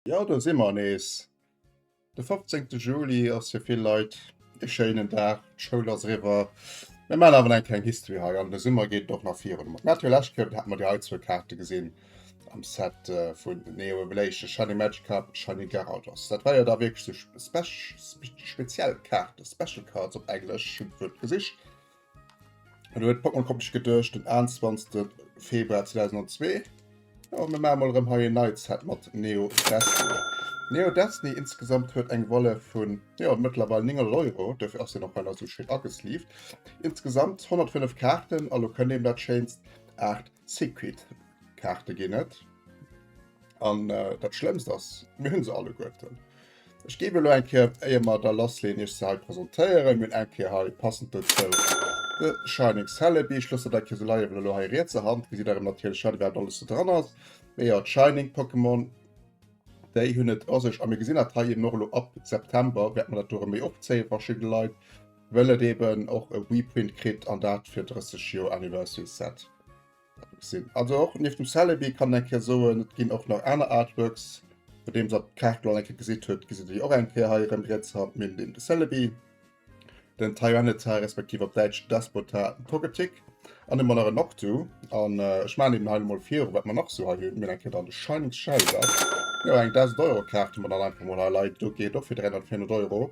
Jo do si mer nees. De 15. Juli ass fir vill Leit e schéinen Dag, d'Schoul ass eriwwer. Mir man awer eng kleng History hei an de Summer geet et och nach virun. Mat Matthew Lashcap hat mer déi hei zwou Kaarte gesinn am Set äh, vun Neo Revelation, Shiny Magikarp a Shiny Gyarados. Dat war jo da wierklech sou speziell Kaarte, Special Cards op Englesch, hunn d'Wuert gesicht. Hallo, et Pokémon kommt ich gedurcht den 21. Februar 2002. Oh, mir machen mal rem hier Night Set mit Neo Destiny. Neo Destiny insgesamt huet eng Wolle vun ja, mittlerweile 9 Euro, dafür ass den noch einer so schön angesleeved. Insgesamt 105 Karten, also könnt eben dat schéinst 8 Secret Kaarte ginn net an dat schlëmst ass mir hunn se alle goeten. Ech gebe lo enke eier mat der lass leen ech se presentéieren hunn enke hei passend dozou de Shining Celebi. Ech losse dat jo se leiien well lo hei riets a Hand gesitt der natierlech haut wat alles do dran ass wéi jo d'Shining Pokémon déi hunn et a sech a mir gesinn dat hei eben och lo ab September wäerte mer dat do erëm méi opzéie verschidde Leit. Well et eben och e Reprint kritt an dat fir 30 Joer Anniversary Set. Also och nieft dem Celebi kann eng Kéier soen, et ginn och nach aner Artworks. Bei deem der d'Kaart lo eng Kéier gesitt huet, gesitt der déi och eng Kéier hei erëm riets haut nieft dem de Celebi, den Tyranitar respektiv op Däitsch Despota Togetic an de Monarch Noctu. An ech maan eben hei emol viru wat mer nach sou hei hunn. Mir hunn eng Kéier dann de Shining Shellder, jo eng 1000 Euro Kaart, déi mer dann einfach emol hei leien. Do geet och fir 300, 400 Euro.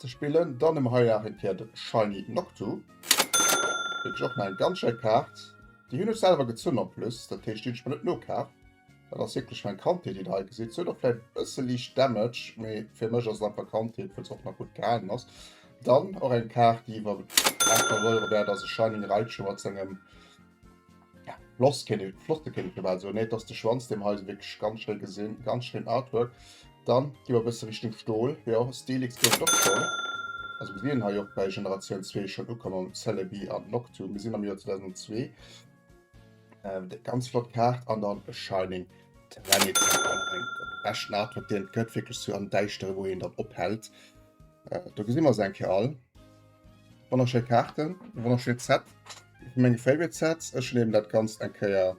Ze spillen dann ëm hei nach eng Kéier de Shiny Noctu. Wierklech och nach eng ganz schéi Kaart. Déi hunn ech selwer gezunn en plus, dat heescht déi hunn ech mer net nokaf. Dat ass wierklech meng Kandheet déi Der hei gesitt. Si huet och vläicht e bësse liicht Damage, mee fir mech ass et einfach Kandheet, wëll se och nach gutt gehalen ass. Dann och eng Kaart déi iwwer 800 Euro wäert ass, e Shiny Raichu mat sengem Ja, floss kenne flotte kenne ich mal so net dass de Schwanz dem Häuse wirklich ganz schnell gesinn ganz schön Artwork dann gi wir bis Richtung Stohl ja Stelix gëtt doch schon also wir sehen hier auch bei Generation 2 schon ukommen Celebi an Noctu wir sind am Jahr 2002 ähm, de ganz flott Kaart an dann Shining Planet besten Artwork den gëtt wirklich so an deichtere wo en dann ophält äh, da gesinn wir se enke all. Wonnerschéi Kaarten, e wonnerschéint Set, ee vu menge Favorite Sets. Ech nehmen dat Ganzt eng Kéier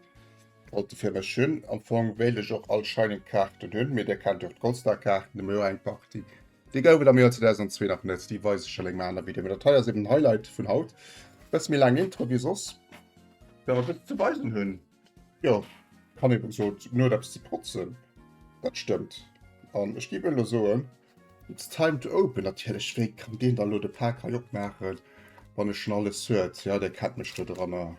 alt fir mech hunn. Am Fong wéilt ech och all Shining Kaarten hunn, mee Dir kennt jo och d'Goldstar Kaarten, do hu mir jo eng Partie. Déi gouf et am Joer 2002 nach net, déi weise ech an engem anere Video. Mee dat hei ass eben den Highlight vun haut. E bësse méi laang Intro wéi soss, well mer e bësse ze weisen hunn. Jo, kann eben gesot, Nuet eppes ze potzen, dat stëmmt. An ech géif elo soen. It's time to open natierlech, wéi kann deen da lo de Pak hei opmaachen wann e schon alles huet? Jo dee kennt mech do doranner.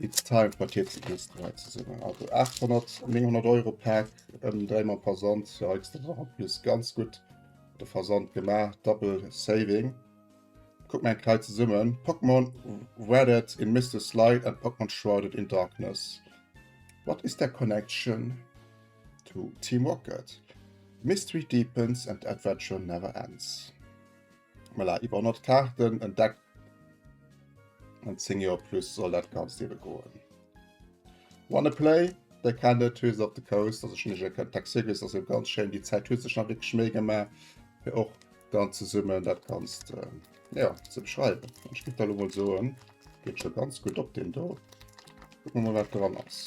It's time for TC Geste hei ze summen. Also 800, 900 Euro Pak ëm dréi mam Versand, jo kriss de nach en plus ganz gutt de Versand gemaach, double saving. Kuck mol eng Kei zesummen, Pokémon Wradded in Mistless Light and Pokémon Shrouded in Darkness, what is their connection? To Team Rocket, Mystery deepens and adventure never ends. Voilà, iwwer 100 Kaarten entdeckt an 10 Joer plus soll dat ganz dewe goen. Wanna play? Der kann net Twiz op de Coast, also schon ech kann Taxigis also ganz schön die Zeit hue sech nach wirklich schmee gemacht fir och dann ze summen dat kannst äh, ja ze beschreiben. Ich gibt da mal so ähm, geht schon ganz gut op den do. Gucken wir mal wat dran ass.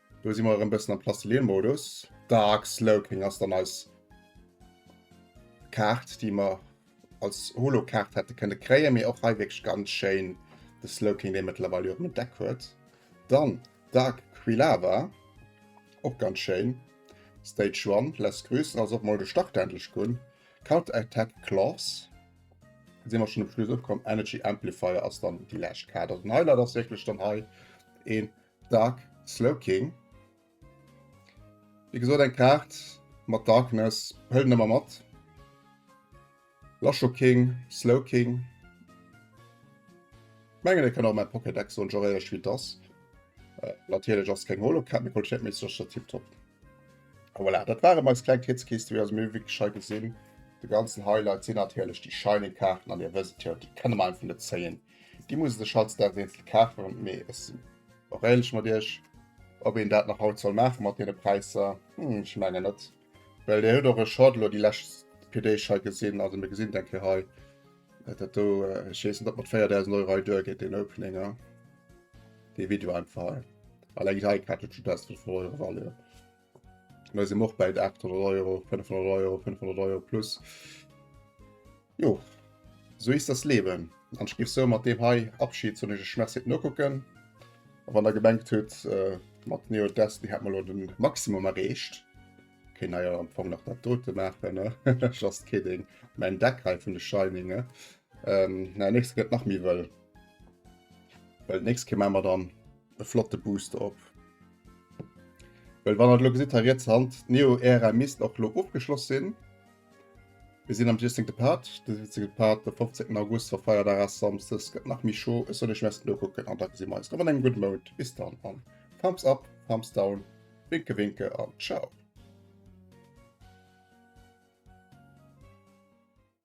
Do si mer erëm bëssen am Plastilien-Modus. Dark Slowking ass dann eis Kaart, déi mer als Holo-Kaart hätte kënne kréien, mee och hei wierklech ganz schéin de Slowking, dee mëttlerweil jo och en Deck huet. Dann Dark Quilava, och ganz schéin. Stage One, Less Grüss, also och mol de Start endlech ginn. Counter Attack Claws, do si mer schonn um Schluss ukomm. Energy Amplifier ass dann déi lescht Kaart. Also den Highlight ass wierklech dann hei ee Dark Slowking. Wie gesot eng Kaart mat Darkness hëllen ëmmer mat. Lasho King, Slow King. Mengen e kann och mein Pokédeck so geréiert wie dass. Äh, natierlech ass keng Holokaart, mir Qualitéit méi sech tip top. Voilà, dat waren eis kleng Kitzkiste wéi ass mir wéi geschei gesinn. De ganzen Highlight sinn natierlech déi Shining Kaarten an dir wësst jo, déi kënne mer einfach net zéien. Déi muss de Schatz dat eenzel kafen, mee ech sinn och éierlech mat iech, ob een dat nach haut soll maache mat deene Präisser, ech mengen net. Well Dir hutt och ech haut elo déi lescht PDg hei gesinn, also mir gesinn et eng Kéier hei, dat do, ech weess net ob mat 4.000 Euro hei duergeet deen Openinger, dee Video einfach hei. Alleng déi hei Cartridge huet 1.500 Euro Value. Da si och bäit 800 Euro, 500 Euro, 500 Euro plus. Jo, so is das Leben. An ech gif sou mat deem hei Abschied soen, ech Merci fir d'Nokucken. A wann der gemengt hutt, äh, mat Neo Destiny hätt mer lo den Maximum erreecht, kéint der jo am Fong nach dat dote maachen, ne? Just kidding. Mäin Deck hei vun de Shining, ne? Ähm, nächste gëtt nach méi wëll. Well nächst Keer maache mer dann e flotte Booster op. Well wann hat lo gesit ha jetzt Hand Neo Ära misst och lo ofgeschloss sinn. Wir sinn am Jesting de Part, de Jesting de Part de 15. August war feier der ass samstes gëtt nach mi Show. Ech soll ech messen do kucken an da gesinn mer eis rëm an engem gudde Mount. Bis dann an Thumbs up, Thumbs down, Winke Winke an Ciao.